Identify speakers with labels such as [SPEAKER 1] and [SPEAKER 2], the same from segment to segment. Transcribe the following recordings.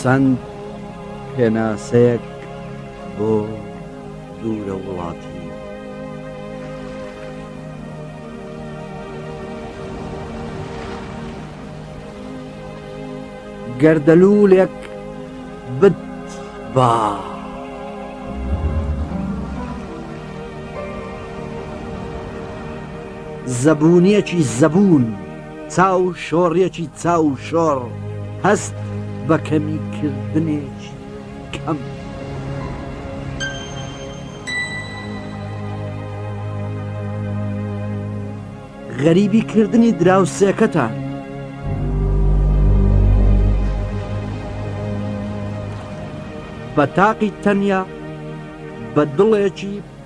[SPEAKER 1] چەند پێناسەیەک بۆ دوورە وڵاتی گەردەلوولێک بت با. زەبوونیەکی زەبوون. چاو شۆڕیەکی چاو شۆڕ هەست بە کەمی کردنێکی کەم. غەریبی کردنی دراوسێکەتان. بە تاقی تەنیا بە دڵێکی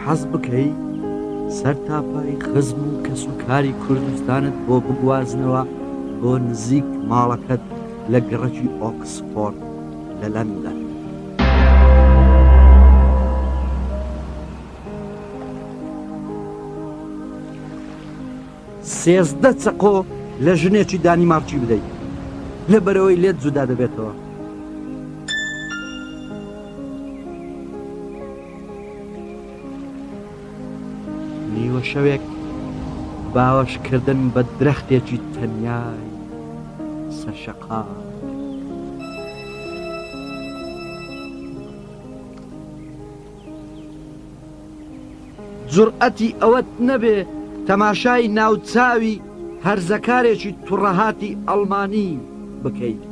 [SPEAKER 1] حەز بکەی سەر تاپای خزم و کەس و کاری کوردستانت بۆ بگوازنەوە بۆ نزیک ماڵەکەت لە گڕەکی ئۆکسفۆرد لە لەندەن. سێزدە چەقۆ لە ژنێکی دانیمارکی بدەیت لە بەرەوەی لێت جودا دەبێتەوە. نیوە شەوێک باوەش کردن بە درەختێکی تەنیای سەر شەقام جوڕئەتی ئەوەت نەبێ تەماشای ناوچاوی هەرزەکارێکی توڕەهاتی ئەڵمانی بکەیت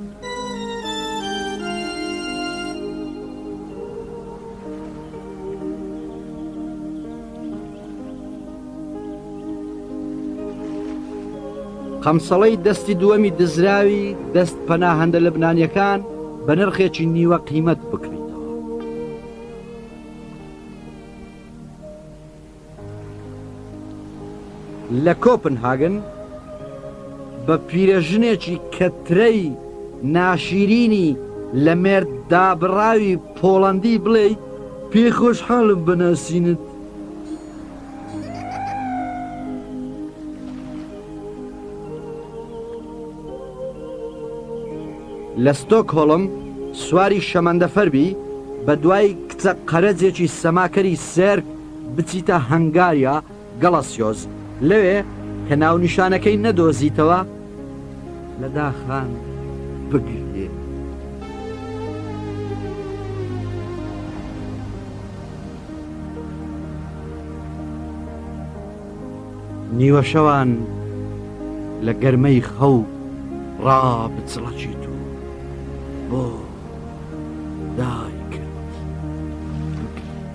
[SPEAKER 1] قەمسەڵەی دەستی دووەمی دزراوی دەست پەناهەندە لەبنانیەکان بە نرخێکی نیوە قیمەت بکرێت لە کۆپنهاگن بە پیرەژنێکی کەترەی ناشیرینی لە مێرد دابڕاوی پۆڵەندی بڵێی پێی خۆشحاڵم بەناسینت. لە ستۆکهۆڵم سواری شەمەندەفەر بی بە دوای کچە قەرەجێکی سەماکەری سێرک بچیتە هەنگاریا گەڵەسیۆز لەوێ کە ناونیشانەکەی نەدۆزیتەوە لە داخان بگریێ. نیوە شەوان لە گەرمەی خەو ڕابچڵەچیت و بۆ دایکرد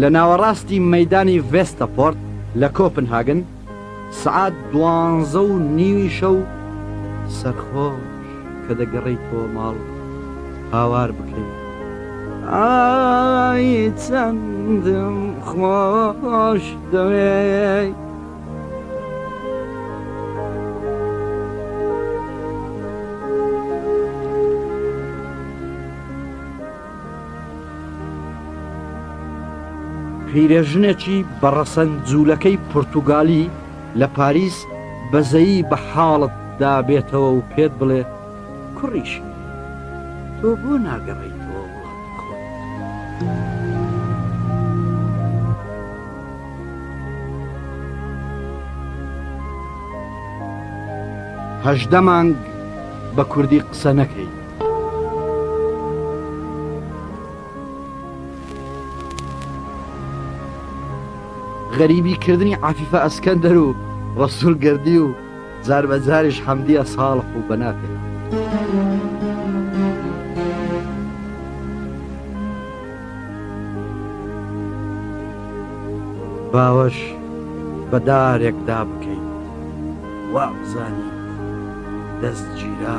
[SPEAKER 1] لە ناوەڕاستی مەدانی ڤێستە پۆرت لە کۆپن هاگن سعات دوانزە و نیوی شەو سەرخۆش کە دەگەڕی تۆ ماڵ هاوار بکەیت ئای چەندم خۆش دەوێت پیرێژنێکی بەڕەسەن جوولەکەی پرتوگالی لە پاریس بەزەیی بە حاڵت دابێتەوە و پێت بڵێ کوڕیشی وت، تۆ بۆ ناگەڕێیتەوە وڵاتی خۆت؟ هەژدە مانگ بە کوردی قسە نەکەیت. غەریبیکردنی عەفیفە ئەسکەندەر و ڕەسوڵ گەردی و. جار بە جاریش حەمدیە ساڵح و بەناکەی باوەش بە دارێکدا بکەیت وابزانی دەست گیرا